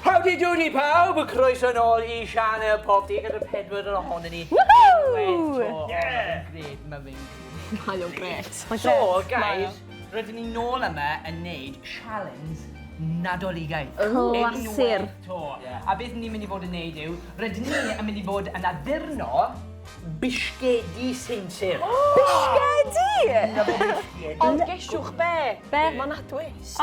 Howdy doody pawb, a croeso nôl i Sianel Pob Dydd gyda pedwar yn ohonyn ni. Woohoo! Yeah! Mae'n gret, mae'n gret. Mae o'n gret. So, guys, rydyn ni nôl yma yn neud sialens Nadoligaidd. Clasur. A beth ni'n mynd i fod yn neud yw, rydyn ni yn mynd i fod yn addurno bisgedi sinsir. Bisgedi? Ond gesiwch be? Be? Mae 'na twist. O!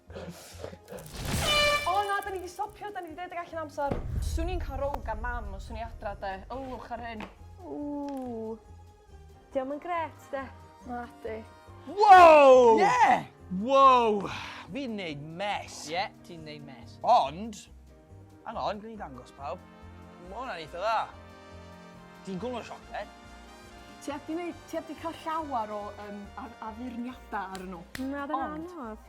O na, da ni di stopio, da ni di deud y gall yn amser. Swn i'n cael row gan mam os swn i adra de. Ylwch ar hyn. Ww. Diolch yn gret de. Na di. Wow! Yeah! Wow! Fi'n neud mes. Ie, yeah, ti'n neud mes. Ond, hang on, gwni dangos pawb. Mae hwnna'n eitha dda. Ti'n gwmwr siocled? Ti heb di, neud, ti heb di cael llawer o um, addurniadau ar nhw. Na, dyna anodd.